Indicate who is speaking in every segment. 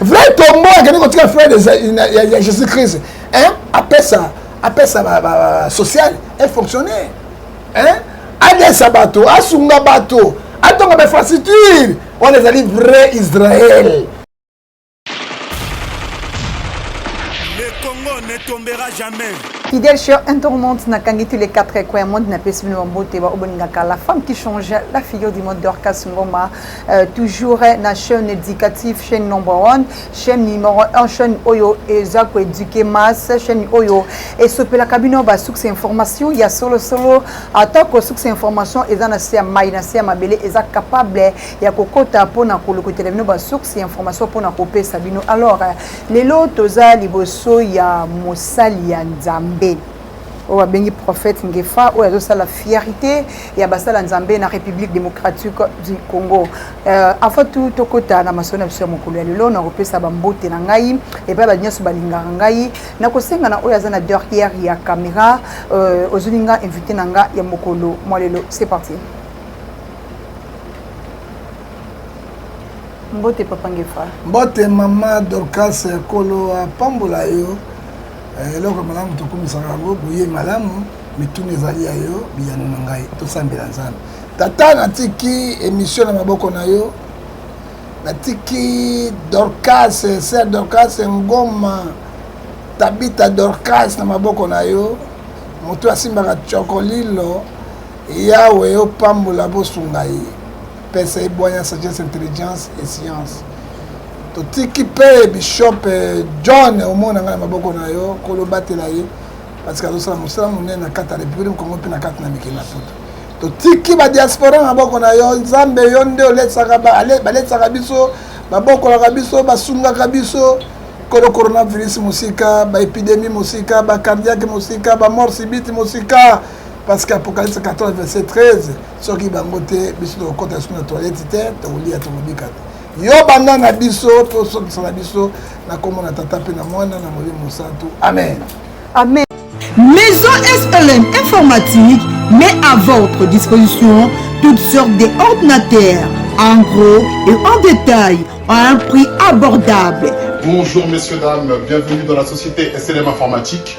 Speaker 1: vrai tombo akende kotika frère ya jésus christ apesa apesa social efonctionner adesa bato asunga bato atonga bainfrastructure wana ezali vrai israel
Speaker 2: tombera jamais. Fidèle chère, un
Speaker 3: tourmente n'a qu'à tous les quatre coins monde n'a pas suivi mon beau la femme qui change la figure du monde d'Orcas Ngoma Euh, toujours na chaîne éducative chaîne number one chaîne numéro un chaîne oyo eza koéduquer masse chaîne oyo esopelaka bino basuks information ya solosolo atako suks information eza na se ya mai na se ya mabele eza capable ya kokota mpona kolokotela bino basuks ya information mpona kopesa bino alors lelo toza liboso ya mosali ya nzambe oyo abengi prophète Ngefa oyo azosala fierté ya basala Nzambe na République démocratique du Congo. Euh, avant tout tokota na masolo na biso ya mokolo ya lelo na kopesa bambote na ngai epai bato nyonso balingaka ngai na kosenga na oyo aza na derrière ya caméra euh, ozwini nga invité na nga ya mokolo mwa lelo c'est parti mbote papa ngefa mbote mama
Speaker 1: dorcas kolo apambola yo Eh, eloko malamu tokumisaka yango boye malamu mituna ezali ya yo biyano na ngai tosambela nzambe tata natiki emisio na maboko na yo natiki dorcas ser dorcas ngoma tabita dorcas na maboko na yo moto asimbaka cokolilo yawe opambola bosunga ye pesa ebwanya sagesse intelligence et science totiki mpe bishop eh, john omona ngai na maboko na yo kolo batela ye parce que azosala mosala monene na kati ya république congo mpe na kati na mikili na poto totiki badiaspora na maboko na yo nzambe yo nde oletsaka baletsaka biso babokolaka biso basungaka biso kolo coronavirus mosika baepidemie mosika bacardiake mosika bamort sibiti mosika parce que apocalypse 14 verset 13 soki bango te biso tokokota lisusu na toilette te tokolia tokobika te yo banda na biso mpe osokisa na biso na nkombo na tata mpe na mwana na molimo mosantu amen amen
Speaker 3: maison
Speaker 4: slm informatique met à votre disposition toutes sortes de ordinateurs en gros et en détail à un prix abordable bonjour messieurs
Speaker 5: dames bienvenue dans la société slm informatique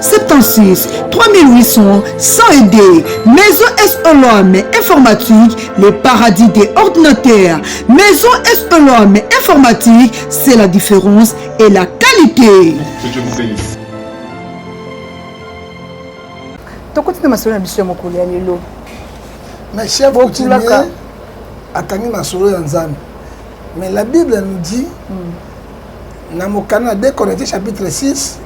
Speaker 4: 76 3800 102 Maison SOLOM informatique, le paradis des ordinateurs. Maison SOLOM informatique, c'est la différence et la qualité.
Speaker 3: tokoti na masolo na biso ya mokolo ya lelo mais
Speaker 1: chef coutumier akangi masolo ya nzambe mais la bible nous dit mm. na mokanda na 2 corinthiens chapitre 6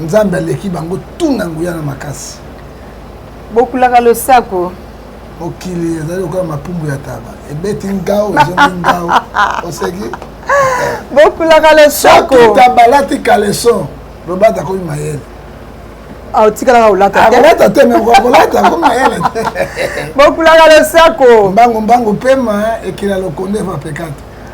Speaker 3: nzambe
Speaker 1: aleki bango tu na nguya na makasi
Speaker 3: bokulaka losako mokili
Speaker 1: ezali lokola mapumbu ya taba ebeti ngao ezongi ngao oseki bokulaka
Speaker 3: losako
Speaker 1: tabalati
Speaker 3: kaleson
Speaker 1: lobata akomi mayele
Speaker 3: otikalaka olata teolata te
Speaker 1: mekolata ko mayele te bokulaka
Speaker 3: losako mbangu mbangu pema
Speaker 1: ekila lokondo evapekata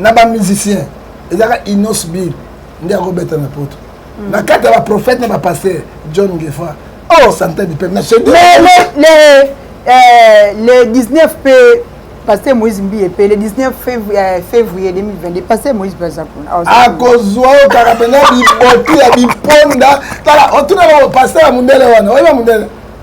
Speaker 1: na
Speaker 3: ba musiciens
Speaker 1: ezaka Innos Bill nde akobeta na poto mm. na kati ya ba prophète na ba pasteur John Ngefa oh santé du peuple na chez le le euh,
Speaker 3: le 19 p pasteur Moïse Mbiye pe le 19 février, euh, février 2022 pasteur Moïse baza kuna ah, akozwa
Speaker 1: yo kaka pena biboti ya biponda tala otuna oh, na pasteur ya mundele wana oyeba mundele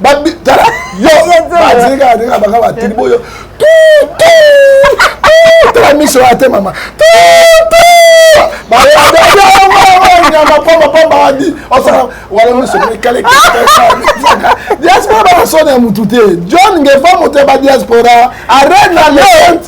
Speaker 1: babi tala yo batika ndenge baka batini boyo tutu tala miso ya te mama tutu nyama pamba pamba wadi osaka wala miso mikale diaspora bakasona ya mutu te john ngefa moto ya badiaspora arena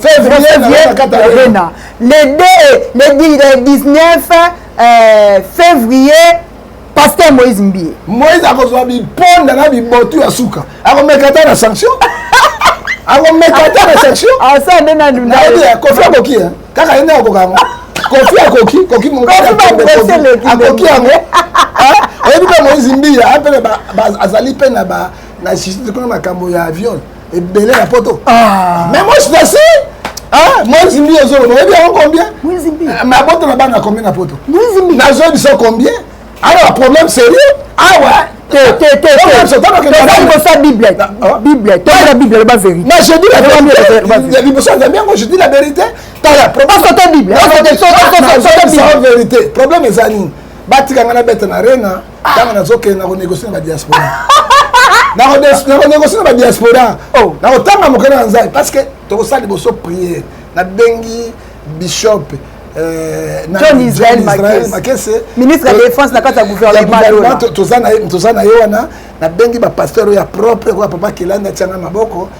Speaker 1: février
Speaker 3: katarina le 2 le 19 euh, février pasteur moïse mbie moïse akozwa
Speaker 1: biponda na bibotu ya suka akomeka ata na sanction akomeka ata na sanction asa nde nayebi
Speaker 3: ya kofi
Speaker 1: akoki kaka ye nde akoka yango kofi akoki koki akoki yango oyebi mpe moïse mbia apene azali mpe na na makambo ya viole ebele na poto ah. mais moi je suis assez ah, mwezi mbi ozoloba oyebi yango combien ah, mais abota
Speaker 3: na bana combien
Speaker 1: na poto nazoyebi so
Speaker 3: combien
Speaker 1: alors problème sérieux awa libosa
Speaker 3: bible bible toyela bible loba vérité je dis la
Speaker 1: vérité libosa nzambe yango je dis la vérité tala problème soto
Speaker 3: bible
Speaker 1: vérité problème eza nini batika ngai nabeta na rena ntango nazokende na konegosie na badiaspora nakonegosie na badiaspora oh. nakotanga mokanda na nzambe parce que tokosala liboso priere nabengi bishop euh, john
Speaker 3: israel makese ministre ya défense na kati ya gouvernement toza na
Speaker 1: ye wana nabengi bapasteur oyo ya propre koya papa kelani atianga maboko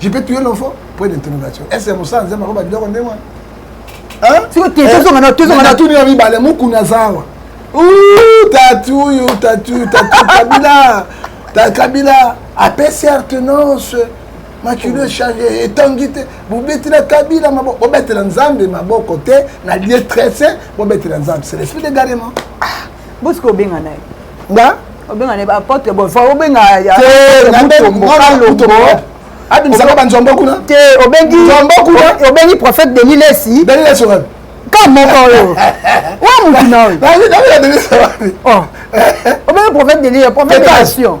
Speaker 1: je peux tuer l'enfant point d'interrogation est ce mosala nzambe akoba biloko nde mwana
Speaker 3: tuni ya mibale mokuni
Speaker 1: aza awa tatuyu tatuyu tatu kabila kabila apesi artenance makilo echange etangi te bobetela kabila maboko bobetela nzambe maboko te na lie trese bobetela nzambe c'est l'esprit de garement ah. Bosco
Speaker 3: obenga naye. Nga?
Speaker 1: Obenga naye apotre
Speaker 3: bon fa obenga ya. Te na mbe mutombo.
Speaker 1: Abimisa ba nzombo kuna. Te obengi
Speaker 3: nzombo kuna. Obengi prophète Denis Lessi. Denis Lessi oyo. Ka moko oyo. Wa mutu na oyo. Na ngi na ngi Denis Lessi. Oh. Obengi prophète Denis, prophète de nation.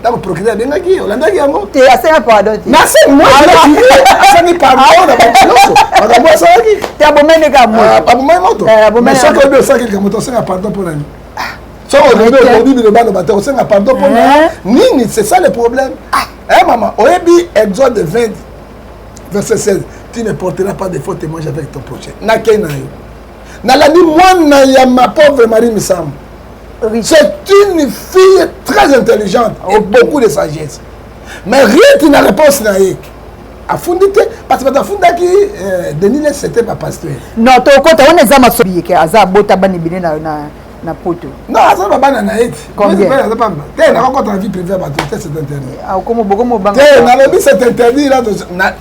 Speaker 1: ntango procureur abengaki ye olandaki yango te asenga pardon
Speaker 3: te nasengi
Speaker 1: moasengi pardon na bato nyonso makambo asalaki te abomai nde kaka
Speaker 3: moto ah, abomai moto
Speaker 1: eh, soki oyebi osalaki likambo te osenga pardon mpo na nini ah. soki oyebi okobi biloba loba te osenga pardon mpo na eh. nini c'est ça le problème ah. eh mama oyebi exode 20 verset 16 tu ne porteras pas de faux témoignage avec ton prochain nakei na yo nalandi mwana ya ma pauvre marie misambo c'est une fille très intelligente okay. et beaucoup de sagesse mais rite na réponse na ye afundi te parce bato afundaki euh, denis les c'était pas pasteur non tokota wana
Speaker 3: eza masobiyeke aza abota bana ebele na, na, na poto non aza babana na
Speaker 1: ye ti aza pamba te nakokota na vie privé ya bato te c'est interdit ah, okomobogomobanga
Speaker 3: te nalobi c'est
Speaker 1: interdit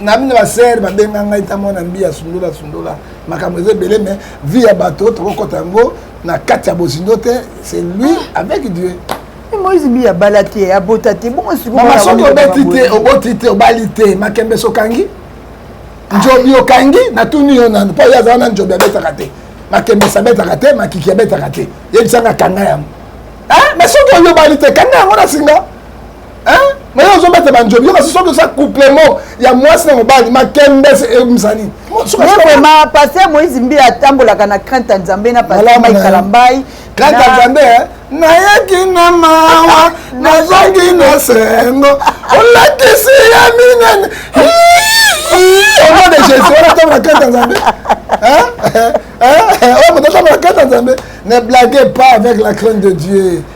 Speaker 1: na bino basere babenga ngai ta mwana mbi asundola asundola makambo eza ebele mais vie ya bato tokokota yango na kati ya bozindo te c'est lui ah. avec dieu moise bi
Speaker 3: abala te abota te bongo sikoyo soki obeti te
Speaker 1: oboti te obali te makembe sokangi ah. njobi okangi natuni yo nanu mpo ye aza wana njobi abetaka te makembe sabetaka te makiki abetaka te yebisanga kanga yango ah, mais soki oyo obali te kanga yango na singa hein mais yo ozobeta banjobi yo kasi soki oza couplement ya mwasi na mobali makembese eyebisa nini vraiment
Speaker 3: paster moïse mbi atambolaka na crainte ya nzambe na paster mai kalambai crainte ya nzambe
Speaker 1: eh? nayaki na mawa nazongi na sengo olakisi ya minene au nom de jésus wana atambola crainte ya nzambe oyo moto atambola crainte ya nzambe ne blague pas avec la crainte de dieu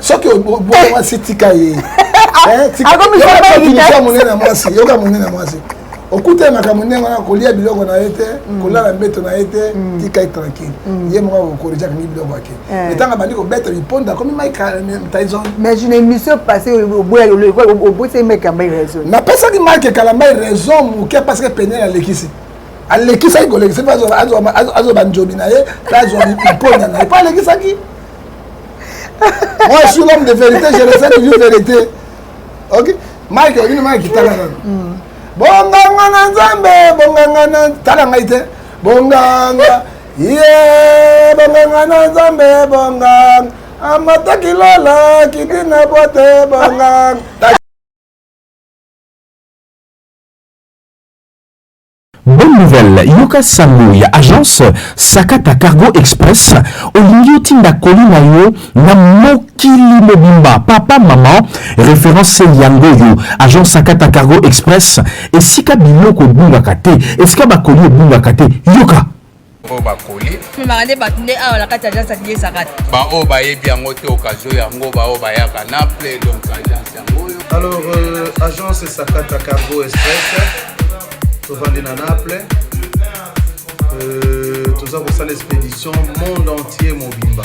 Speaker 1: soki oboyi mwasi tika ye monene ya mwasi yoka monene ya mwasi okuta makambo ndenge wana kolia biloko na ye te mm. kolala mbeto na ye te mm. tika ye tranquille mm. ye moko akokorija kangi biloko yake eh. etanga bandi kobeta biponda akomi maitaison mais une émission
Speaker 3: passé oboya obosaki mike kambai raison napesaki mike
Speaker 1: kalambai raison moke parce que penel alekisi alekisaki kolekisa mpe azwa banjobi na ye mpe azwa biponda na ye mpo alekisaki Moi, je suis l'homme de vérité, je le sais toujours vérité. Ok Mike, une main qui t'a la hmm. Bonganga na Nzambe, bonganga na tala ngai te. Bonganga. Yeah, bonganga na Nzambe, bonganga. Amata kilala, kiti na bote, bonganga.
Speaker 6: Bonne nouvelle yoka sango ya agence sakata cargo express olingi otinda colis na yo na mokili mobimba papa maman reference yango oyo agence sakata cargo express esika biloko ebungaka te esika ba colis ebungaka te yoka oyo bakoli
Speaker 7: memaka nde bato
Speaker 8: nde awa na kati ya agence adiyesaka te baoyo bayebi yango
Speaker 7: te okazio yango baoyo bayaka na ple donc agence yango oyo alors euh,
Speaker 9: agence sakata cargo express tovandi na naple euh, toza kosala expédition monde entier mobimba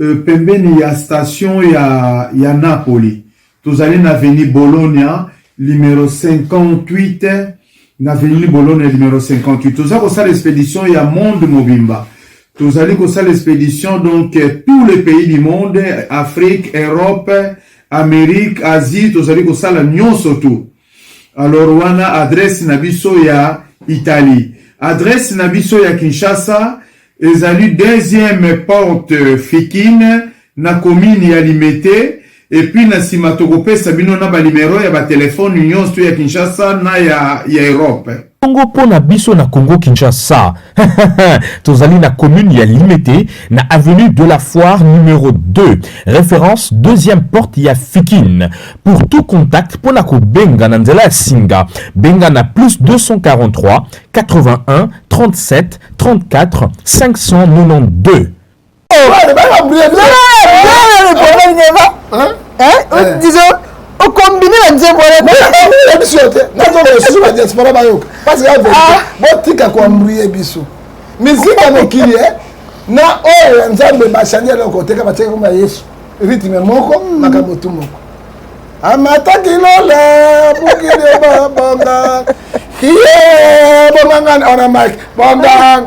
Speaker 9: euh, pembeni ya station ya, ya Napoli. Tozali na avenue Bologna numero 58 na avenue Bologna numero 58. Toza kosala expedition ya monde mobimba. Tozali kosala expedition donc euh, tous les pays du monde, Afrique, Europe, Amérique, Asie, tozali kosala nyonso tout. Alors wana adresse na biso ya Italie. Adresse na biso ya Kinshasa ezali deuxième porte Fikine na commune ya Limete epuis na nsima tokopesa bino na banimero ya batelefone nyonso ya Kinshasa na ya, ya Europe. Bongo mpo na
Speaker 6: biso na Kongo-Kinshasa, tozali na commune ya Limete, na avenue de la Foire numero 2, reference deuxième porte ya Fikin. Pour tout contact mpo na kobenga na nzela ya singa, benga na plus 243 81 37 34 592.
Speaker 3: disons okombine na nzembo ya biso te nazonga lisusu na
Speaker 1: diaspora bayoka parce que ah. botika koambrie biso miziki ya mokili eh? na oyo ya nzambe bashani eloko teka batiaki komba yesu rythme moko hmm. makambo tu moko amataki lola mokili babanga ye bomangana ona mike bongang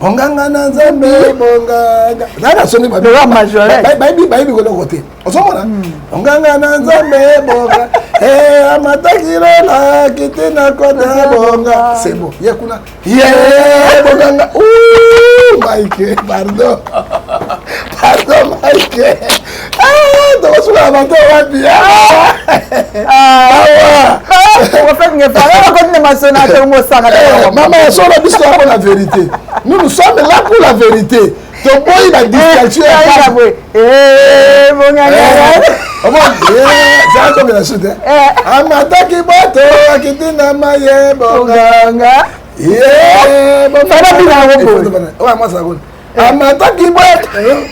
Speaker 1: onganga na nzambe monganga zala na soni bayebi bayebi koloko te ozomona hmm. onganga na nzambe bonga eh, amataki lola kiti na kota bonga sebo ye kuna ye bonganga mike pardon pardon mike tokosuka na bato wapi mama ya solo biso yako na verité nous nous sommes là pour la vérité toboyi na distraction zaakobela sute amataki bato akiti na maye bonganga ye bonganga amataki boye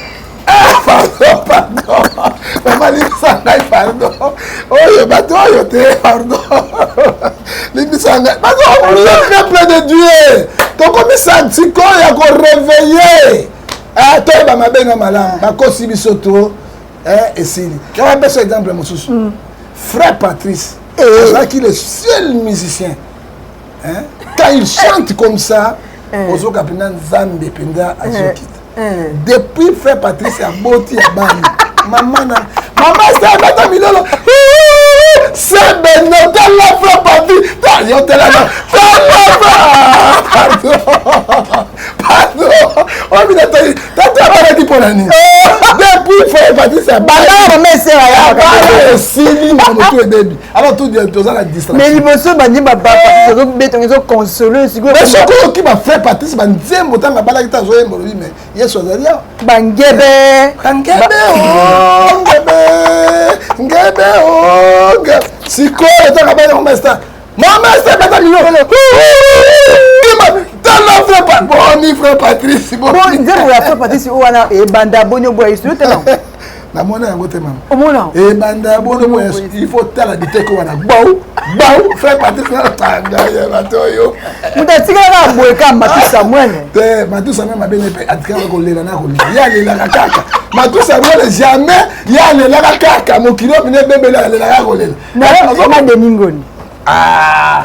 Speaker 1: bamalisa ngai pardon oyo bato oyo te pardon limbisa ngai bazokolia peuple de dieu tokomisa ntiko ya koreveille eh, toyeba mabe na malamu bakosi biso to eh, esili apesa exemple mosusu mm. frère patrice eh. azalaki le seul musicien hein quand il chante comme ça eh. ozoka mpenza nzambe mpenza eh. azokita eh. depuis frère patrice aboti ya bani mama na mama sebeta milolo sebene tala frère patrice yo telana pardon pardon obina tali tata abalaki mpo na nini depuis frère patrice abala esili na motu ebebi alors tout bien toza na distraction mais liboso bandi ba
Speaker 3: ba eh! tozo beto ngezo consoler siko mais soko yo ki ba fait
Speaker 1: partie ba nzembo tanga bala kita zo yembo lui mais yesu azali ya bangebe
Speaker 3: bangebe o ngebe ngebe o ngebe siko tanga bala ko masta mama c'est pas mignon tala
Speaker 1: vrai pa boni vrai patrice boni nzembo ya vrai
Speaker 3: patrice wana ebanda boni oboya yesu yo tala namona yango
Speaker 1: te mama omona ebanda eh,
Speaker 3: bono
Speaker 1: moya il faut tala biteke wana bau bau frère patrick natanga ya bato oyo moto atikalaka
Speaker 3: boye ka matusa mwene te matusa mwe
Speaker 1: mabene mpe atikalaka kolela na kolela ye alelaka kaka matusa mwene jamais ye alelaka kaka mokili oyo mine ebebele alelaka kolela nazoma
Speaker 3: deningoni ah,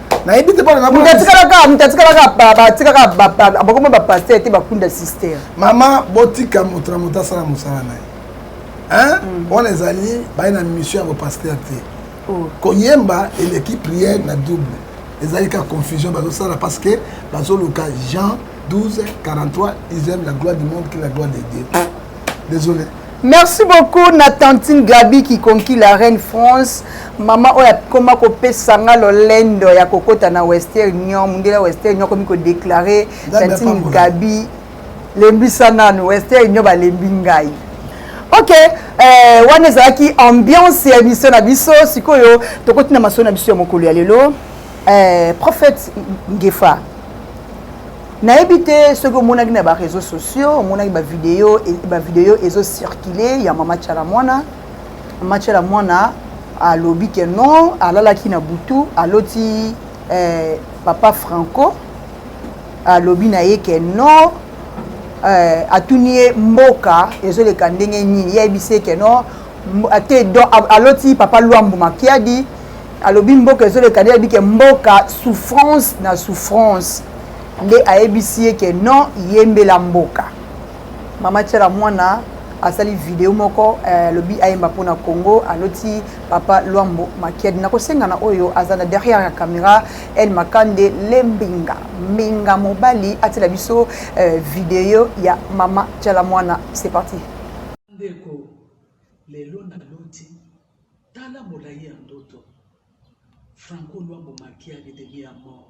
Speaker 1: nayebi te mpona moto atikalaka moto atikalaka atikaka
Speaker 3: bakoma bapaster te bakunda sister mama botika
Speaker 1: moto na moto asala mosala na ye mm. wana ezali baye na mission ya bopaster te oh. koyemba eleki priere na double ezali ka confusion bazosala parce que bazoluka jean 12 43 ism la gloire du monde qui la gloire de dieu Désolé. Merci
Speaker 3: beaucoup na tantine Gabi qui conquit la reine France. Mama oyo akoma kopesa nga lolendo ya kokota na Western Union, mundela Western Union akomi kodeklare tantine Gabi lembisa nanu Western Union balembi ngai. ok eh, wana ezalaki ambiance ya émission na biso sikoyo tokoti na masolo na biso ya mokolo ya lelo eh, prophète ngefa nayebi te soki omonaki na ba réseaux sociaux omonaki ba video ba video ezo circuler ya mama chala mwana mama chala mwana alobi ke non alalaki na butu aloti eh, papa franco alobi na ye ke non eh, atuni ye mboka ezoleka ndenge nini ye ayebisi ye ke non ate don aloti papa luambu makiadi alobi mboka ezoleka nde alobi ke mboka souffrance na souffrance nde ayebisi ye ke non yembela mboka mama tiala mwana asali video moko eh, alobi eh, ayemba mpo na congo aloti papa lwambo makiadi nakosenga na oyo aza na derrière ya camera el makande le mbinga mbinga mobali atila biso eh, video ya mama tiala mwana c'est parti ndeko
Speaker 10: lelo naloti Tala molayi ya ndoto. Franco Luambo Makiadi de mi amor.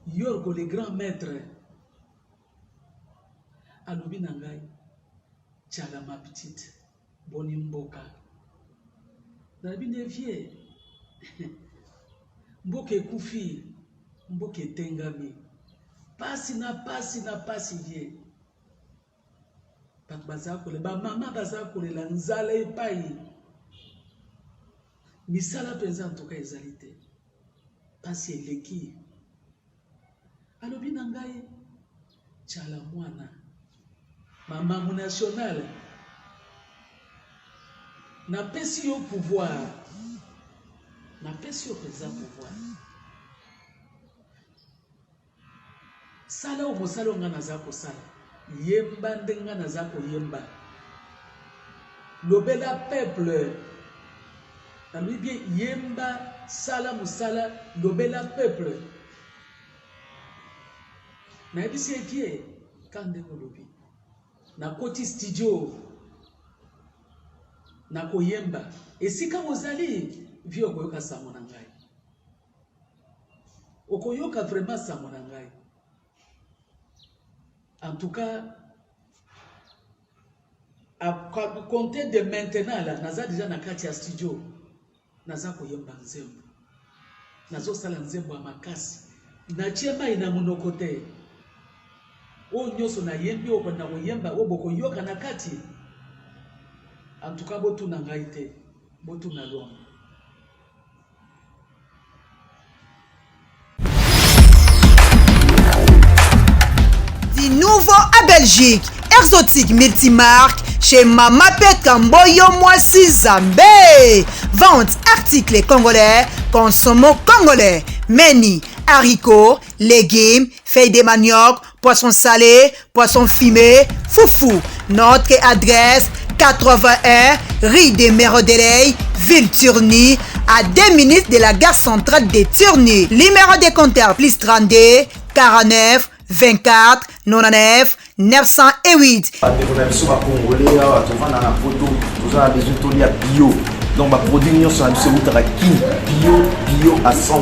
Speaker 10: Yorgo le grand maitre alobi na ngai chala ma petite boni mboka nalobi nde vie mboka ekufi mboka etengami pasi na pasi na pasi vie bato baza kolela bamama baza kolela nzala epai misala mpenza ntoka ezali te mpasi eleki alobi na ngai cala mwana mama monationale napesi yo pouvoir napesi yo mpenza pouvoir Sala oyo mosali oyo ngai naza kosala. Yemba ndenge ngai naza koyemba. Lobela peuple. Nalobi bien yemba, sala mosala, lobela peuple. Nayebisi ye kie ka ndenge olobi. Nakoti studio. Nakoyemba. Esika ozali, vieux okoyoka sango na ngai. Okoyoka vraiment sango na ngai. En tout cas, à compter de maintenant là, naza déjà na kati ya studio. Naza koyemba nzembo. Nazo sala nzembo ya makasi. Natie mai na monoko te. Oyo nyonso nayembi oyo na koyemba oyo bokoyoka na kati. En tout cas, botuna ngai te. Botuna Luamba.
Speaker 4: Di nouveau à Belgique, Exotique Multimarque chez Mama Peka Mboyo Mwasi Zambé. Vente articles congolais, consommons congolais, meni, haricots, légumes, feuilles de manioc, Poisson salé, poisson fumé, foufou. Notre adresse 81 rue des Merodeley, ville Turni, à 2 minutes de la gare centrale de Turni. Numéro de compteur plus 32 49 24 99 908. bandeko na biso bacongolais awa tovanda na poto
Speaker 11: toza na besoin tolia bio donc baproduit nyonso na biso eutaka kin bio bio à 100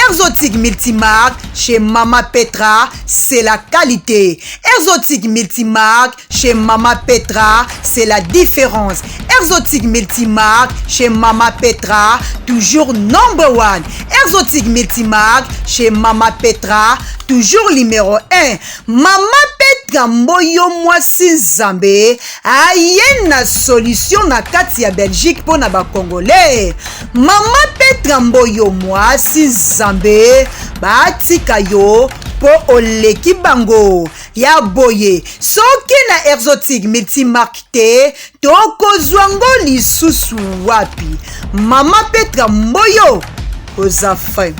Speaker 11: exotique
Speaker 4: multimarque chez Mama Petra, c'est la qualité. Exotique multimarque chez Mama Petra, c'est la différence. Exotique multimarque chez Mama Petra, toujours number one. Exotique multimarque chez Mama Petra, toujours numéro 1. Mama Petra Mboyo Mwasi Nzambe aye na solution na kati ya Belgique mpo na ba Congolais. Mama Petra Mboyo mwasi Zambe batika yo po oleki bango ya boye soki na exotique multimarque te tokozwa ngo lisusu wapi mama petra mboyo oza fin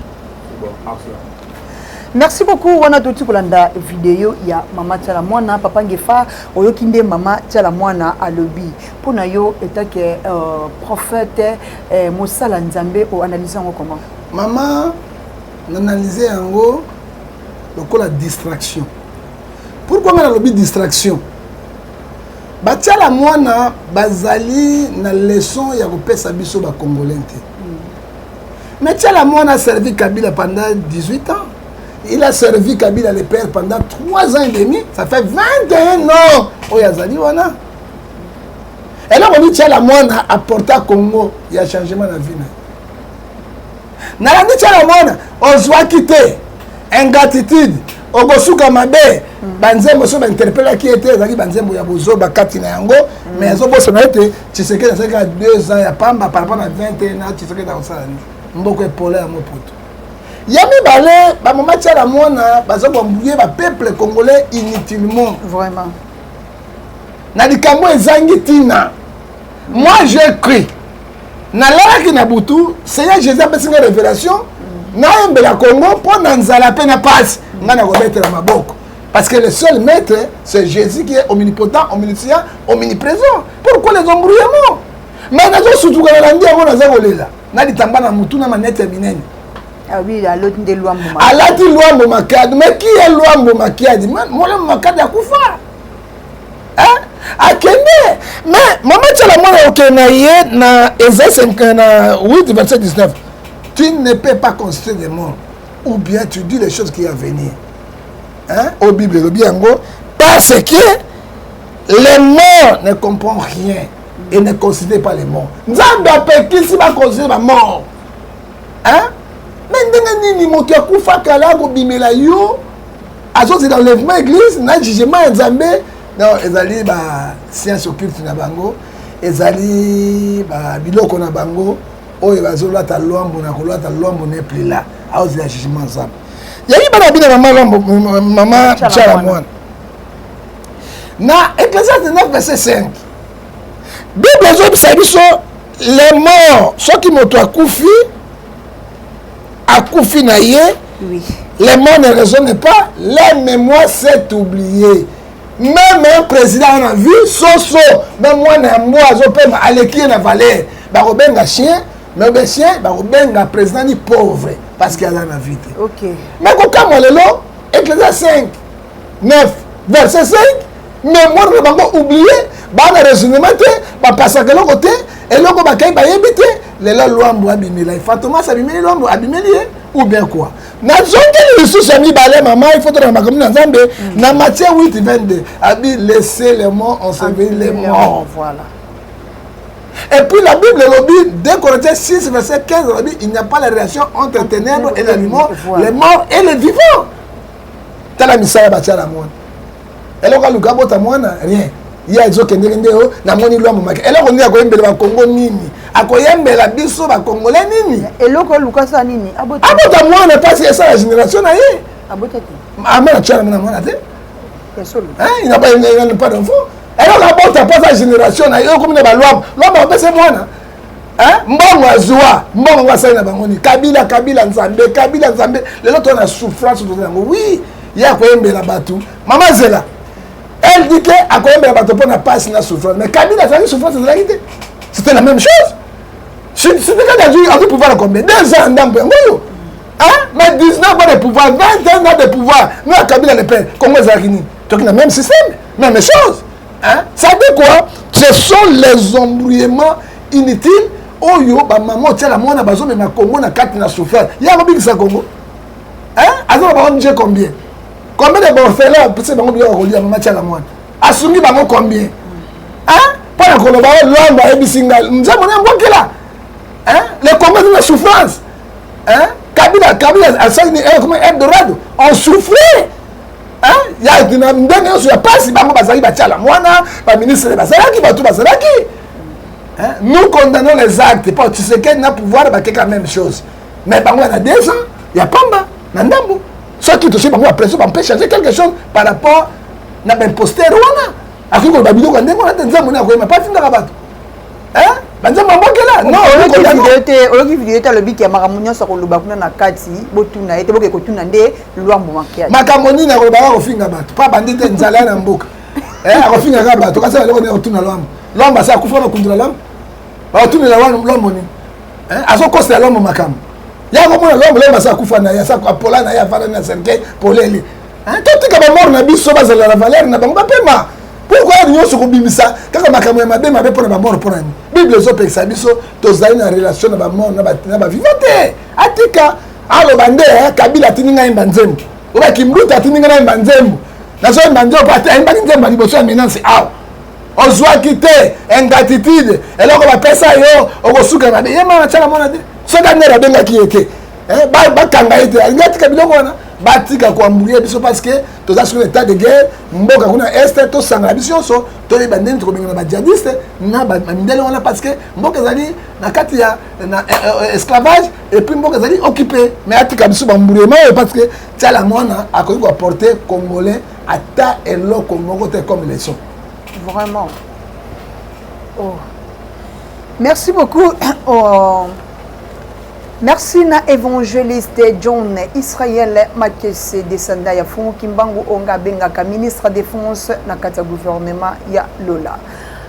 Speaker 3: merci beaucoup wana touti kolanda video ya mama tiala mwana papa ngefa oyoki nde mama tiala mwana alobi Mpo na yo etant que euh, prophète eh, mosala Nzambe o analyse yango comment? Mama
Speaker 1: na analyse yango lokola distraction. Pourquoi nga nalobi distraction? batiala mwana bazali na leson ya kopesa biso bacongolais te mais tiala mwana aservi kabila pendant 18 ans il a servi kabila le père pendant 3 ans et demi ça fait 21 ans oyo azali wana eloko nini tiala mwana aporta congo ya changement na vie na ye nalandi tiala mwana ozwaki te ingratitude okosuka mabe banzembo so bainterpelaki ye te ezalaki banzembo ya bozoba kati na yango mm. mais azobosana ete tshisekedi azalaki ya deux ans ya pamba par rapport na 21 ans tshisekedi akosala nini mboko epola ya moputu ya mibale bamama tiala mwana baza bambuye bapeuple congolais inutilement vraiment na likambo ezangi ntina moi je cri nalalaki na butu seigneur jésus apesi nga révélation nayembela congo mpo na nzala mpe na pasi ngai nakobetela maboko parce que le seul maître c'est jésus qui est omnipotent omniscient omniprésent pourquoi les embrouillements mais nazosutukana na ndi yango naza kolela na litamba na motu na manete ya minene
Speaker 3: Ah oui, aloti nde lwambo
Speaker 1: makadi. Alati lwambo makadi. Mais qui est lwambo makadi? Molemo makadi akufa. Hein? Akende. Mais mama tshela mwana okende na ye na eza 5 na 8 27 19. Tu ne peux pas consulter des morts ou bien tu dis les choses qui vont venir. Hein? Au Bible elobi yango parce que les morts ne comprennent rien et ne considèrent pas les morts. Nzambe apekisi ba considérer ba morts. hein? mais ndenge nini moto akufa kala akobimela yo azozela enlèvement église na jugement ya nzambe non ezali ba science occulte na bango ezali ba biloko na bango oyo bazolata lwambo na kolata lwambo ne plus là aozela jugement nzambe yayi bana bina mama lwambo mama chala mwana na ecclesiaste 9 verset 5 bible ezobisa biso les morts soki moto akufi akufi na ye oui. les morts ne raisonne pas leur mémoire s'est oublié même un président na vie soso na mwana ya mbwa azopema aleki ye na valeur bakobenga chien mais obe chien bakobenga président ni pauvre parce que aza na vie te okay. mais
Speaker 3: kokamwa
Speaker 1: lelo eklezia 5 9 verset 5 memoire na bango oublie baa na raisonnement te bapasaka eloko te eloko bakai bayebi te lelo lwambo abimela ye fantomas abimeli lwambo abimeli ye ou bien quoi nazongeli lisusu ya mibale mama ifoto na makambo na nzambe mm. na matie 8 22 abi laisse le mont enseveli le mont voilà Et puis la Bible le dit, 2 Corinthiens 6, verset 15, elle dit, il n'y a pas la relation entre les ténèbres et les morts, les morts et les vivants. tala misala batya na mwana eloko aluka abota mwana rien ye azokendeke nde o namoni lwa momaki eloko nini akoyembela bakongo nini akoyembela biso bakongole nini eloko oluka sa
Speaker 3: nini abota mwana
Speaker 1: mpasi esala génération na ye
Speaker 3: ama na tyana mwana mwana
Speaker 1: te
Speaker 3: pas
Speaker 1: d'enfant eloko abota mpo aza génération na ye okomi na balwama lwama opese mwana Hein? mbongo azwa mbongo yango asali na bango nini kabila kabila nzambe kabila nzambe lelo toza na souffrance toza yango wi ye akoyembela bato mama zela elle dit ke akoyembela bato mpo na pasi na souffrance mais kabila azalaki souffrance ezalaki te c'était la même chose sitikadi azwi pouvoir na combien deux ans ndambo yango oyo mais 19 ans de pouvoir 21 ans de pouvoir na kabila le père congo ezalaki nini toki na même système même chose hein? ça dit quoi ce sont les embrouillements inutiles oyo oh, bamama otiala mwana bazomema congo na kati na souffrance ye akobikisa congo aza na baong combien combien de borfelin apesi bango biloko kolia mama tiala mwana asungi bango combien mpo na koloba o oh, lwambo ayebisi ngai nzambo na mbokela le congo eza na souffrance kabila kabila asali ni eh, comment eldorado on souffre ya ndenge nyonso ya mpasi bango bazalaki batyala mwana baministre bazalaki bato bazalaki nous condamnons les actes mpo tisekedi na pouvoir bakeka même chose mais bango ya na desa ya pamba na ndambo soki tosoi bango ya pression bampe changer quelque chose par rapport na baimposter wana akoki koloba biloko ya ndenge wana te nzambo nde akoyema mpo atindaka bato banzambo abokela noyoki
Speaker 3: video te alobi ke makambo nyonso akoloba kuna na kati botuna ye te boke kotuna nde luambo makiadi makambo nini akolobaka
Speaker 1: kofinga bato mpo abandi te nzala na mboka eh, akofinga kaka bato kasi aloko nini akotuna luambo luambo asi akufa bakundula luambo bakotunela luambo nini eh, azokosela luambo makambo yakomona luambo luambo asi akufa na ye asi apola na ye afanda na cercueil polele eh, totika bamor na biso bazala na valeur na bango bapema pourkoi yango nyonso kobimisa kaka makambo ya mabe mabe mpo na bamor mpo na nini bible ezopekisa biso tozali na relation na bamor na bavivant te atika aloba nde eh, kabila atindi ngai yemba nzembo oba kimbuta atindi ngai nayemba nzembo nazoyemba nzembo ate ayembaki nzembo ya liboso ya menance awa ozwaki te ingratitude eloko bapesa yo okosuka mabe ye mama tyaka mwana te soki angere abengaki ye te eh, bakanga ye te alingi atika biloko wana batika koambuye biso parce que toza soki na état de guerre mboka kuna este tosangana biso nyonso toyeba ndenge tokobengana bajadiste na mindele wana parce que mboka ezali na kati ya na eh, eh, esclavage epuis mboka ezali occupe mais atika biso bamburema oyo parce que tiala mwana akoki koaporte congolais ata eloko moko te comme leçon vraiment
Speaker 3: oh. merci beaucoup oh. merci na évangéliste john israel makese desanda ya fungu kimbangu onga abengaka ministre défense na kati ya gouvernement ya lola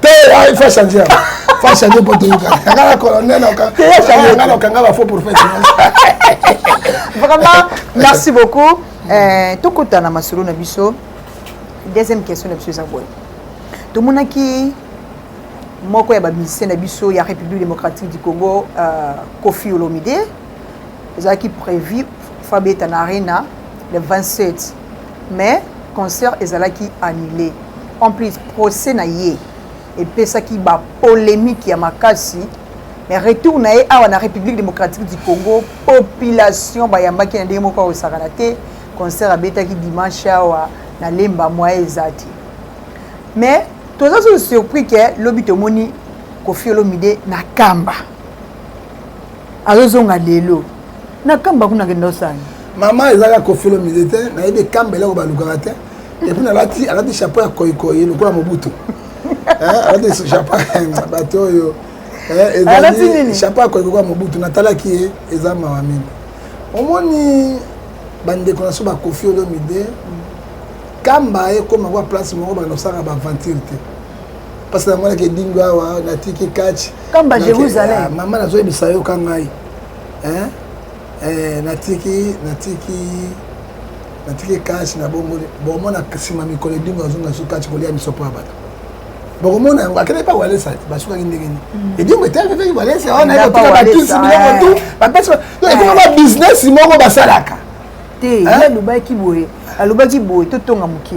Speaker 3: te
Speaker 1: ah, il faut changer yango faut changer mpo toyokana yanga na colonel yanga na okanga bafaux prophète vraiment
Speaker 3: merci beaucoup eh, tokutana masolo na biso deuxième question na biso eza boye tomonaki moko ya bamusicien na biso ya république démocratique du congo euh, kofi olomide ezalaki prévu fabeta na arena le 27 Mais concert ezalaki annule en plus procès na ye epesaki ba polemique ya makasi mais retour na ye awa na Republique democratique du Congo population bayambaki na ndenge moko ya kosakana te concert abetaki dimanche awa na lemba moye eza te mais toza sous surpris que lobi tomoni Koffi Olomide na kamba azozonga lelo na kamba kuna akenda osani mama ezalaka
Speaker 1: kofelo mize te nayebi ekamba eloko balukaka te epuis nalati alati chapeau ya koikoi lokola mobutu eh, alati chapeau bato oyo eh, ezali chapeau ya koikoi lokola mobutu natalaki ye eza mawa mingi omoni bandeko na so bakofi olomide kamba ekoma kwa place moko bakosaka baaventure te mpasi na mwanaki edingo awa natiki kachi kamba jérusalem
Speaker 3: ah, mama nazoyebisa yo
Speaker 1: ka ngai eh, natiki natiki natiki kachi na bongoli bomona nsima mikolo edingo azonga su kachi kolia misopo ya bato bokomona yango akendaki mpa walesa basukaki ndenge nini mm. edingo eteakekaki walesa wana ekotika bakisi biloko eh. tu bapesi ekoma ba bizinesi moko basalaka te
Speaker 3: alobaki boye alobaki boye totonga moke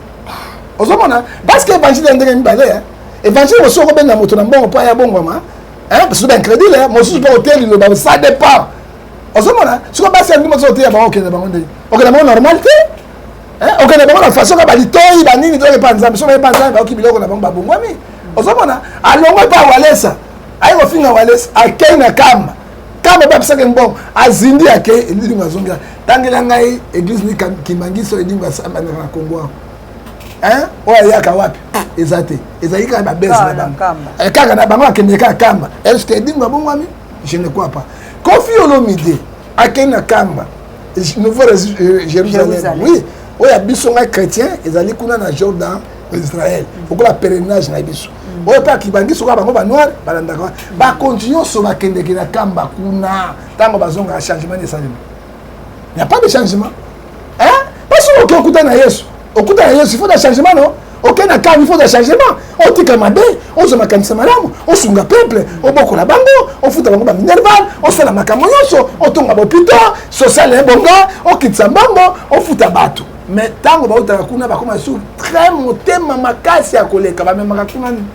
Speaker 1: ozomona parce que évangile ya ndenge mibale eh. évangile mosusu okobenga moto na mbongo mpo aya bongwama basusu baincrédule eh. mosusu mpo oteya liloba ça dépend ozomona siko basi yango mosusu oteya bango okende bango ndenge okende bango normal te eh. okende bango na façon ka balitoi banini toyoki mpa nzambe so baye mpa nzambe bayoki biloko na bango babongwami ozomona alongwe mpa walesa aye kofinga walesa akei na kamba kama babisaka mbongo azindi ake elilingo azongi tangela ngai eglise ni kimbangiso elilingo asambandaka na kongo yango oyo ayaka wapi eza te ezali kaka babese na bango eh, kaka na bango akende kaka kamba eske edingo abongwami je ne crois pas kofi olomide akende na kamba nouveau euh, jérusalem oui oyo ya biso ngai chrétien ezali kuna na jordan israel lokola pèlerinage na biso mm. oyo mpe akibangi soka bango banoire balandaka wana mm. bakonzi nyonso bakendeke na kamba kuna ntango bazongaka changement esalema ya pas de changement pasi oke okuta na yesu okuta na yesu ifo na changement no oke na kamba ifo na changement otika mabe ozwa makanisa malamu osunga peuple obokola bango ofuta bango baminerval osala makambo nyonso otonga bopito social ebonga okitisa mbongo ofuta bato mais ntango bautaka kuna bakoma lisusu très motema makasi ya koleka bamemaka kuna nini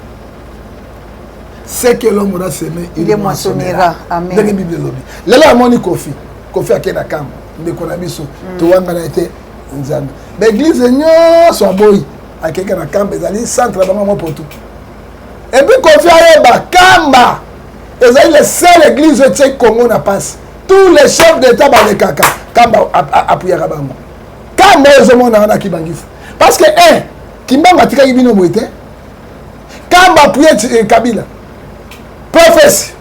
Speaker 1: ce que l'homme aura semé il le moissonnera
Speaker 3: ndenge bible elobi
Speaker 1: lelo amoni kofi kofi ake na kambo ndeko na biso mm. towangana ye te nzambe baeglize nyonso aboyi akeke na kamba ezali centre na bango mwa poto epuis kofi ayeba kamba ezali le seul église oyo etie congo na mpasi tous les chefs d'état balekaka kamba apuyaka bango kanda oyo ezomona wana kibangisa parce que un eh, kimbangu atikaki bino boye te kamba apuye eh, kabila profesi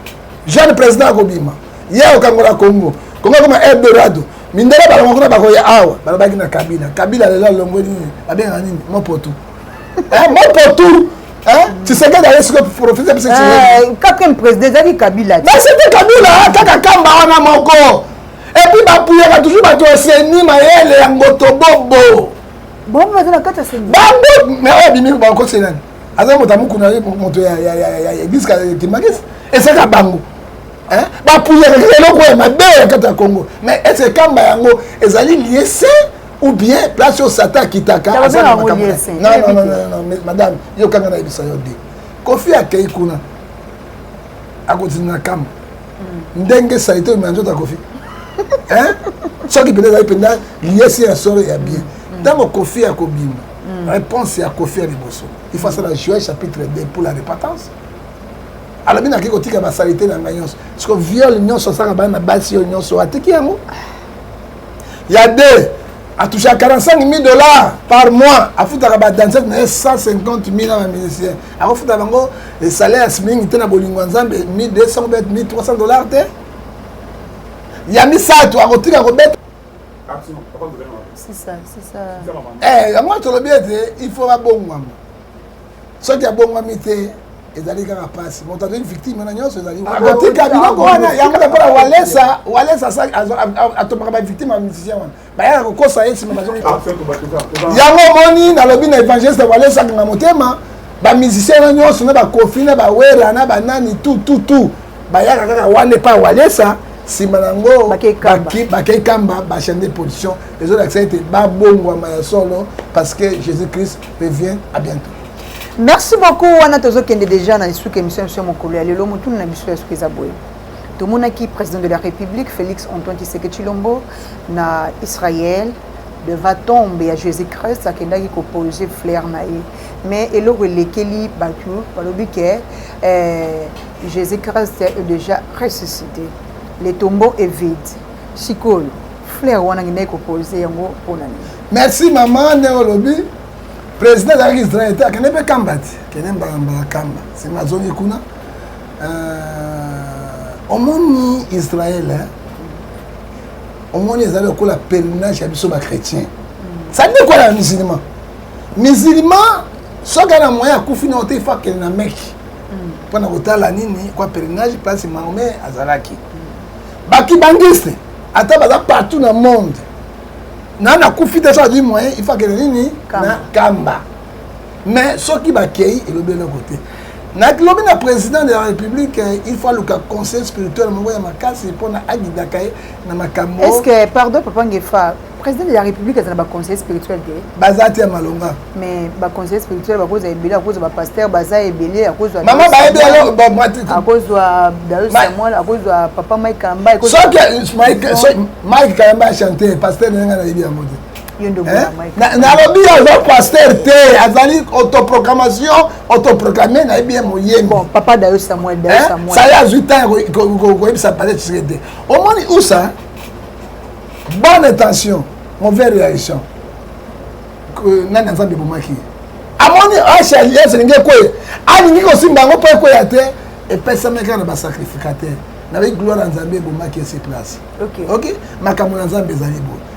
Speaker 1: jeune président akobima ye okangola congo congo akoma eldorado mindele balongo kuna bakoya awa balobaki na kabila kabila lelo alongwe nini babengaka nini mopotu eh, mopotu tshisekedi aye sikoyo profite biso quatrième président ezalaki
Speaker 3: kabila te c'était kabila
Speaker 1: kaka kamba wana moko epuis bapuyaka toujours bato ya seni mayele ya ngotobobo bango baza
Speaker 3: na kati ya seni bango me oyo abimi
Speaker 1: bakokisi nani aza moto amukuna moto ya eglise kimagisi esaka bango bapuyaka kaka eloko ya mabe ya kati ya congo mais ese kamba yango ezali lie se ou bien place oyo satan akitaka madame yokanga nayebisa yo de kofi akei kuna akotinda na kamba ndenge salite omela nzoto ya kofi soki mpenza ezali mpenza liesi ya solo ya bien ntango kofi ya kobima mm. réponse ya kofi ya liboso il faut asala juin chapitre 2 pour la repentance alobi naki kotika basalite na ngai nyonso siko viole nyonso asaka bana na basi oyo nyonso atiki yango ya deux atouchaka 45 000 dollars par mois afutaka badansete na ye 150 000 na bamusicien akofuta bango salaires mingi te na bolingo ya nzambe 1200 bet 1300 dollars te ya misato akotika kobeta
Speaker 3: eh,
Speaker 1: yango tolobi ete il faut babongwama soki abongwami te ezali kaka mpasi moto azali victime na nyonso ezali akotika biloko wana yango lokola walesa walesa atombaka bavictime ya musicien wana bayaka kokosa ye nsima bazonga yango omoni nalobi na évangéliste walesa akanga motema bamusicien na nyonso na bakofi na bawera na banani tu tu tu bayaka kaka wana epai walesa nsima na yango bakei kamba bachane de position ezolakisa ete babongwama ya solo parce que jésus christ revient à bientôt merci
Speaker 3: beaucoup wana tozokende déjà na lisuka émission ya biso ya mokolo ya lelo motuna na biso ya suka eza boye tomonaki président de la république félix antoine tshiseke tshilombo na israël devant tombe ya jésus christ akendaki kopose flaire na ye mais eloko elekeli bato balobi ke eh, jésus christ est déjà ressuscité le tombeau est vide sikoyo flaire wana akendaki kopose yango mpo na nini merci mama ndenge olobi
Speaker 1: président azalaki israel te akende mpe kamba te kende mbala mbala kamba nsima azongi kuna Euh, omoni israel hein? omoni ezali lokola pèlerinage ya biso bachrétien sa nde kola na musulman musulman soki ana moyen akufi na ote ifo akende na meki mpo na kotala nini kwa pèlerinage place mahome azalaki bakibangiste ata baza partout na monde nana akufi te so azwi moyen ifo akende nini na kamba mais soki bakei elobi eloko te naklobi na président de la république eh, il faut aluka conseil spirituel moko ya makasi mpona agidaka ye na makambo est ce que pardon papa
Speaker 3: ngefa président de la république azala baconseiller spirituel te baza te ya malonga
Speaker 1: mais baconseiller
Speaker 3: spirituel bakozwa ebele akozwa bapaster baza ebele akozwa mama bayebi
Speaker 1: akozwa
Speaker 3: dayo samuel akozwa papa mike kamba soki
Speaker 1: mike kamba chante paster na yanga nayebi yango te
Speaker 3: nalobi
Speaker 1: ye aza paster te azali autoproclamation autoproclame na ye bien moyembisaya
Speaker 3: azwi
Speaker 1: ntango koyebisa pale tshiseke te omoni usa bonne intention mauvaise réaction nani azambe ebomaki amoni hls elingi ekweya alingi kosimba yango mpo ekweya te epesamaki kaka na basacrificateur nayebi gloire ya nzambe ebomaki ese place ok makambo na nzambe ezali boye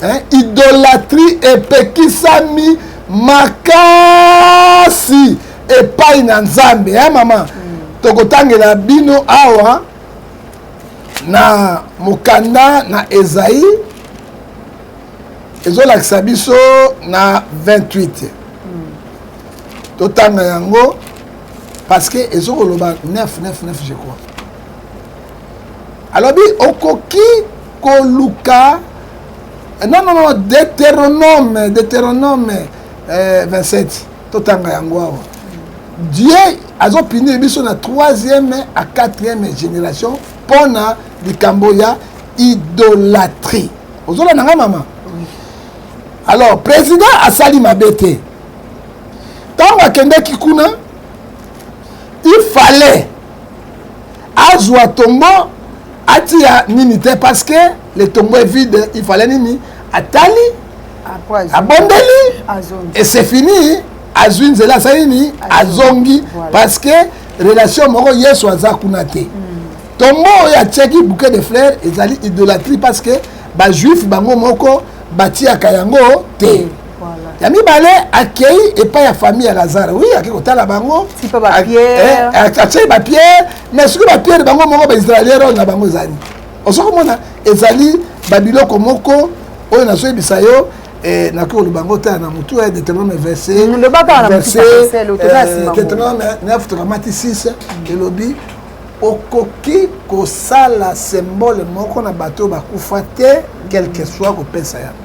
Speaker 1: hein? idolatrie epekisami makasi epai na nzambe hein, mama mm. tokotangela bino awa na mokanda na ezai ezolakisa biso na 28 totanga yango parce que ezokoloba 9 9 9 je crois alobi okoki koluka non non non deuteronome deuteronome eh, 27 totanga yango awa dieu azopinir biso na troisième à quatrième génération mpo na likambo ya idolatrie ozolanda nga mama alors président asali mabe te ntango akendeki kuna il fallait azwa tombo atia nini te parce que le tombo est vide il fallait nini atali abondeli et c'est fini azwi nzela asali nini azongi parce que relation moko yesu aza kuna te hmm. tombo oyo atiaki bouquet de fleur ezali idolatrie parce que bajuif bango moko batiaka yango te hmm. ya mibale akei epai ya famille ya lazare wi akei kotala bango atie bapierre mais soki bapierre bango moko baisraelien role na bango ezali ozo komona ezali babiloko moko oyo nazoyebisa yo eh, nakoki koloba yango tala na motu ya eh, deuteronome versetdeuteronome eh, na fotokamati 6 elobi okoki kosala symbole moko na bato oyo bakufa te quelque soit kopesa yango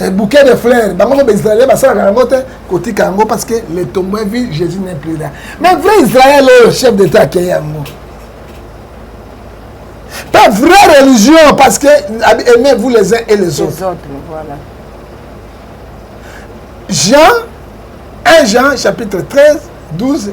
Speaker 1: Eh, bouquet de fleurs bango mpe baisraelien basalaka yango te kotika yango parce que le tombeau vie jésus n'est plus là mais vrai israël oyo chef d'état akei yango pas vraie religion parce que aimez vous les uns et les, les autres, autres voilà. Jean
Speaker 3: 1
Speaker 1: Jean chapitre 13 12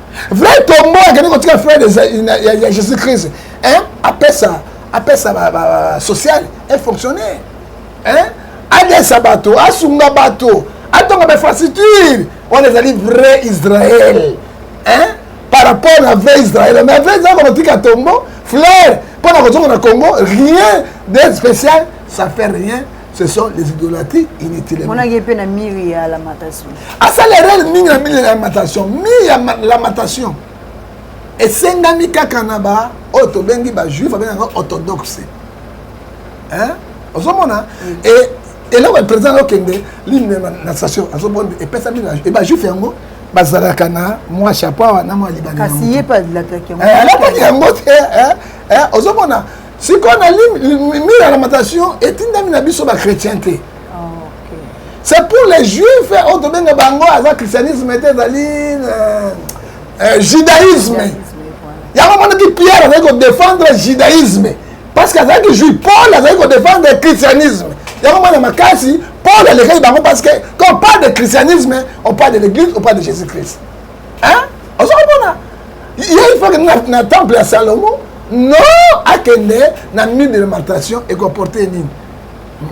Speaker 1: vrai tombo akende kotika frère ya jésus christ hein? apesa apesa social efonctionner hein? adesa bato asunga bato atonga bainfrastructure wana ezali vrai israel hein? par rapport na vrai israel mais vrai israel kokotika tombo fleur mpo na kozonga na congo rien de spécial ça fait rien ce sont les idolâtries inutilement monaki ye mpe na miri
Speaker 3: ya lamentation asali erreur
Speaker 1: mingi na miri ya lamentation miri ya lamentation esengami kaka na ba oyo tobengi bajuif abengaka orthodoxe ozomona mm. e, eloko ya président okende line na station azomona epesami e bajuif yango bazalaka na mwa chapeau awa na mwa libanaalataki
Speaker 3: eh, yango te
Speaker 1: eh, eh, ozomona sikoyo na mire ya lamentation etindami na biso bachrétien te c'est pour les juifs oyo tobenga bango aza christianisme te ezali euh, euh, judaïsme yango monaki pierre azali kodefendre judaïsme parce que azalaki juif paul azali kodefendre christianisme yango mwana makasi paul alekaki bango parce que quand on parle de christianisme on parle de l'église on parle de jésus christ hein ozo komona ye il faut que na, na temple ya Salomon non akende na nuit de lamentation ekoporte ye nini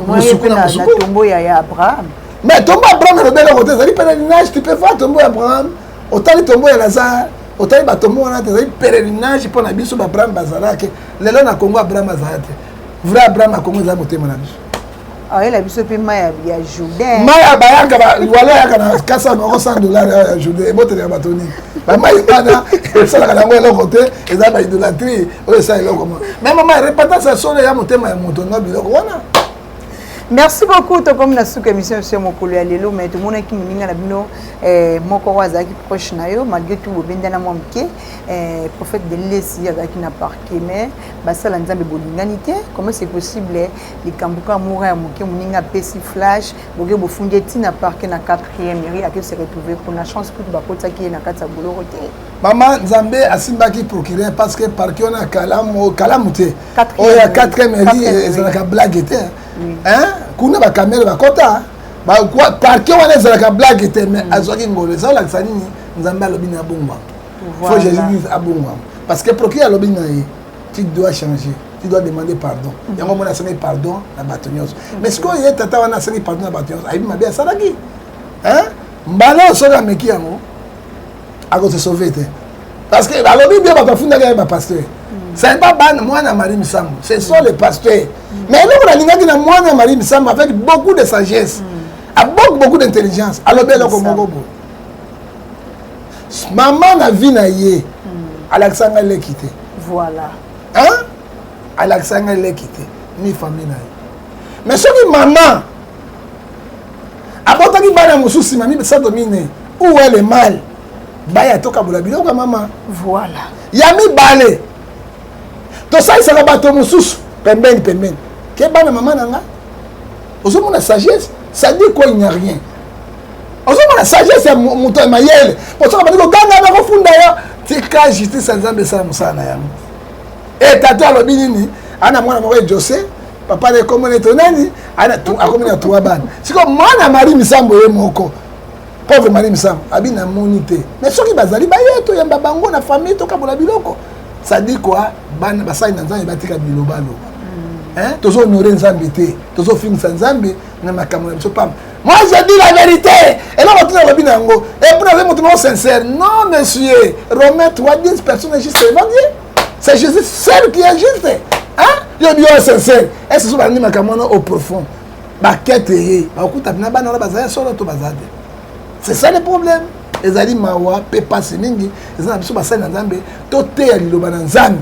Speaker 1: mosuku na mosuku tombo ya ya Abraham mais tombo ya Abraham elobeli eloko te ezali pèlerinage tu peux voir tombo ya Abraham otali tombo ya Lazare otali batombo wana te ezali pèlerinage mpo na biso ba Abraham bazalaki lelo na Congo Abraham azala te vrai Abraham ya Congo ezali motema na biso ayela biso
Speaker 3: mpe mai ya jourdain mai abayaka
Speaker 1: wala ayaka na 400 noko 100 dollar ya jourdain eboteli ya bato nini bamai wana esalaka nango eloko te eza baidolatrie oyo esa eloko mo me mama repentance ya solo ya motema ya moto nga biloko wana merci
Speaker 3: beaucoup tokomi na suka émission biso ya mokolo ya lelo mai tomonaki moninga na bino eh, moko oyo azalaki proche na yo malgré tout bobendana mwa moke eh, prophète de lesi azalaki na parquet mai basala nzambe bolingani te comment c'est possible likambo kaka mura ya moke moninga apesi flash boke bofundi ye ntina parke na 4e mairie ake se retrouve kuna chance kutu bakotisaki ye na kati ya boloko te mama nzambe
Speaker 1: asimbaki procureur parce que parke wana kalamu kalamu te oyo ya 4e mairie ezalaka blague te kuna bakamere bakota parke wana ezalaka blague te mais mm. azwaki ngolo eza olakisa nini nzambe alobi na abongwama fo jésus abongwama parce que procureur alobi na ye tu dois changer tu dois demander pardon mm. yango omoni asali pardon na bato nyonso mm. mais sikoyo ye tata wana asali pardon na bato nyonso ayebi mabe asalaki mbala oyo soki ameki yango akose sauve te parce que alobi bien bato afundaki ye bapaster mm. c'est pas bana mwana marie misambo ce sont les pasteurs mais eloko nalingaki na mwana marie misambo avec beaucoup de sagesse avec beaucoup d'intelligence alobi eloko moko boye mama na vie na ye hmm. alakisa ngai leki te voilà
Speaker 3: hein
Speaker 1: alakisa ngai leki te ni famille na ye mais soki mama abotaki bana mosusu nsima misato mine ou elle est mal baya tokabola biloko ya mama voilà ya
Speaker 3: mibale
Speaker 1: tosalisaka bato mosusu pembeni pembeni ke bana mama na nga ozomona sagesse ça dit quoi il n'y a rien ozomona sagesse ya moto ya mayele mpo soki abandi koganga na kofunda yo tika justice ya nzambe esala mosala na yango e tata alobi nini ana mwana moko ejose papa na ekombo na eto nani akomi na trois bana sikoyo mwana mari misambo ye moko pauvre mari misambo abi namoni te me soki bazali baye toyamba bango na famille tokabola biloko sadi kua bana basali na nzambe batika bilobaloba hmm. tozonore nzambe te tozofingisa nzambe na makambo na biso pamba moi je dis la vérité eloko tina olobi na yango epona azali moto moko sincère non monsieur romain toi dis personne juste devant dieu c'est jésus seul qui est juste hein yo bio sincère est ce que balandi makambo wana au profond bakete ye bakokuta na bana wana bazali solo to baza te c'est ça le problème ezali mawa mpe mpasi mingi eza na biso basali na nzambe toteya liloba na nzambe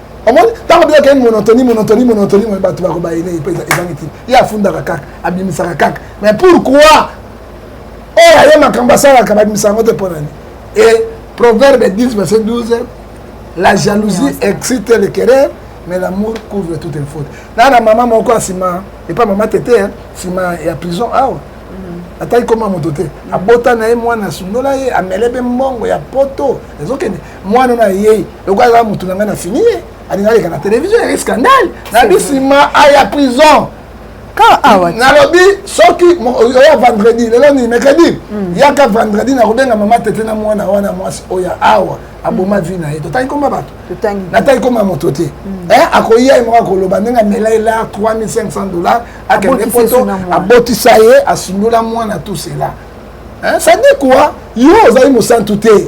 Speaker 1: omoni ntango bino akei monotoni monotoni monotoni moye bato bakobayele mpe ezangi ntina ye afundaka kaka abimisaka kaka mais pourquoi oyo aye makambo asalaka babimisa yango te mpo nani e proverbe 10 verset 12 la jalousie excite le querer mais l'amour couvre toute une faute na na mama moko asima epa mama tete sima ya prison awa ah, ataki koma moto te abota na ye mwana asundola ye amele mpe mbongo ya poto ezokende mwana oyo ayei lokola aza motu na ngai na fini ye alinga aleka na televizio ya scandale nayebi nsima aya prison nalobi soki oya vendredi lelo nini mercredi hmm. yaka vendredi nakobenga mama tete na mwana wana mwasi oyo awa aboma vi na ye totangi koma bato natangi koma moto te hmm. eh, akoya ye moko akoloba ndenge amela ye lar 3500 dollar akende poto abotisa ye asundola mwana tout cela eh, sadi kua yo ozali mosantu te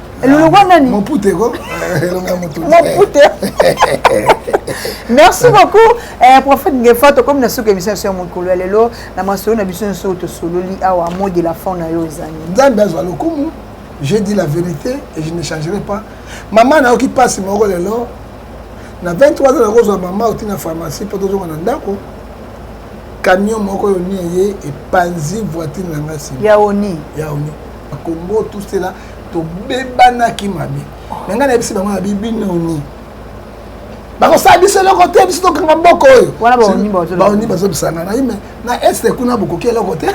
Speaker 1: elongo ah, nani mopute ko eh, elonga motu mopute
Speaker 3: merci beaucoup eh, prophète ngefa tokomi na suka émission ya mokolo ya lelo na masolo na biso nyonso oyo tosololi awa mot de la fin na yo ezali nzambe azwa lokumu
Speaker 1: je dis la vérité et je ne changerai pas mama nayoki mpasi moko lelo na 23 ans nakozwa mama oti na pharmacie mpo tozonga na ndako camion moko yoni eye epanzi voiture na ngai nsima ya oni ya oni
Speaker 3: bakongo
Speaker 1: tout cela tobebanaki mabe me ngai nayebisi bango na bibinoni bakosala biso eloko te biso tokanga mboka oyo baoni
Speaker 3: bazobisana ngai me
Speaker 1: na este kuna bokoki eloko te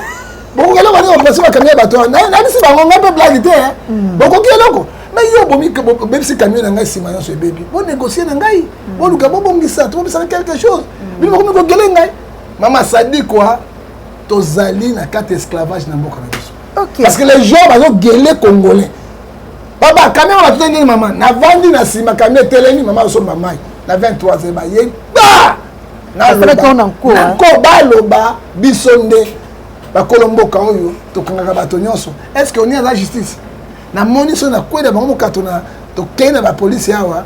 Speaker 1: bokoki eloko te bakosi bakamio ya bato wana nayebisi bango ngai mpe blage te hmm. bokoki eloko me yo bobebisi kamio na ngai nsima nyonso ebebi bonegocie na ngai hmm. boluka bobongisa tobobisana quelque chose hmm. bino bakomi kogele ngai mama sadikwa tozali na kati esclavage na mboka na biso okay. parce que les gens
Speaker 3: bazogele
Speaker 1: congolais baba kamia wana tute nini mama navandi na nsima kamia etelemi mama asomba mai na 23 e baye ba nako baloba biso nde bakolo mboka oyo tokangaka bato nyonso est ce que oni aza justice namoni so nakwela bango mokato na tokei na bapolisi awa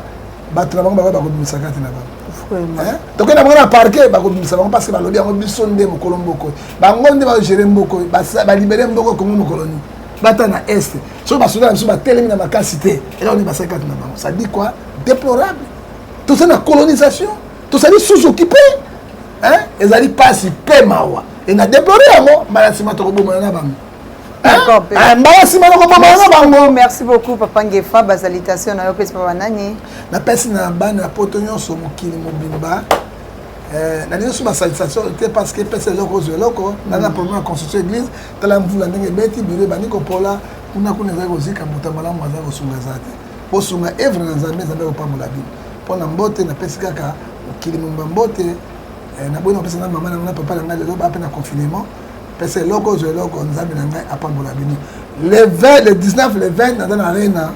Speaker 1: bato na bango bakoya bakobimisa kati na bango eh? tokoki na bango na parke bakobimisa bango parce balobi yango biso nde mokolo mbokoy bango nde bagere mbokoy balibere mboko kongo mokolo nini bata na est soki basoda na biso batelemi na makasi te eloko nde basali kati na bango sadi koi déplorable toza na colonisation tozali sous occupé ezali mpasi mpe mawa e na déplore yango mbala nsima tokobomana na bango Eh,
Speaker 3: mbala nsima nakobomana bango
Speaker 1: merci beaucoup papa ngefa
Speaker 3: basalitation na yo mpesi papa nani napesi na
Speaker 1: bana ya poto nyonso mokili mobimba eh, na liyoso basalitation te parce que epesa eloko ozwa eloko na na problème ya constitution église tala mvula ndenge ebeti biro ebandi kopola kuna kuna ezali kozika moto ya malamu azali kosunga eza te bosunga evre na nzambe nzambe akopambola bino mpo na mbote napesi kaka mokili mobimba mbote eh, naboyi na kopesa na mama na ngai na papa na ngai lelo baa mpe na confinement pesa eloko ozwa eloko nzambe na ngai apambola bino le 20 le 19 le 20 naza na arena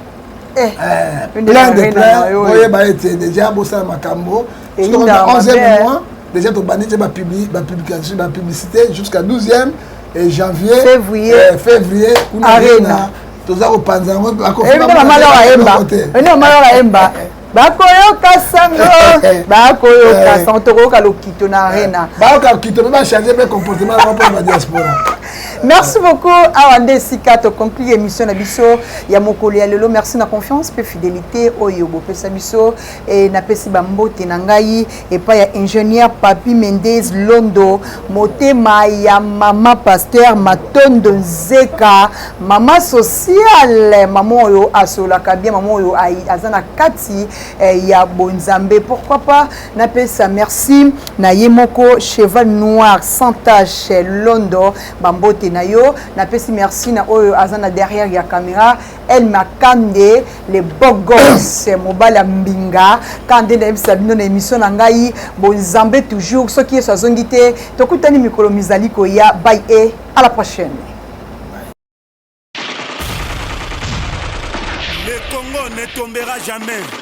Speaker 1: eh, eh, plein de plein oyeba ete deja bosala makambo soki 11e mois déjà tobandi te bapublication bapublicité jusqu'à 12e et janvier février eh, février kuna arena toza kopanza yango bakofiamalawayemba
Speaker 3: bakoyoka sango bakoyoka eh. sango tokoyoka lokito na arena eh. bayoka lokito mpe
Speaker 1: bachange mpe comportement na mpo na diaspora merci
Speaker 3: beaucoup awa nde esika toconclure émission na biso ya mokolo ya lelo merci na confiance mpe fidélité oyo bopesa biso e, napesi bambote na ngai epai ya ingenieur papi mendez londo motema ya mama pasteur matondo nzeka mama sociale mama oyo asololaka bien mama oyo aza na kati eh, ya bonzambe pourquoi pas napesa merci na ye moko cheval noir sans tache londo bambote na yo napesi merci na oyo aza na derrière ya camera El Makande le beau gosse mobali ya mbinga kaka nde nayebisa bino na émission na ngai bonzambe toujours soki yesu azongi te tokutani mikolo mizali koya bay e à la prochaine
Speaker 2: Le Congo ne tombera jamais.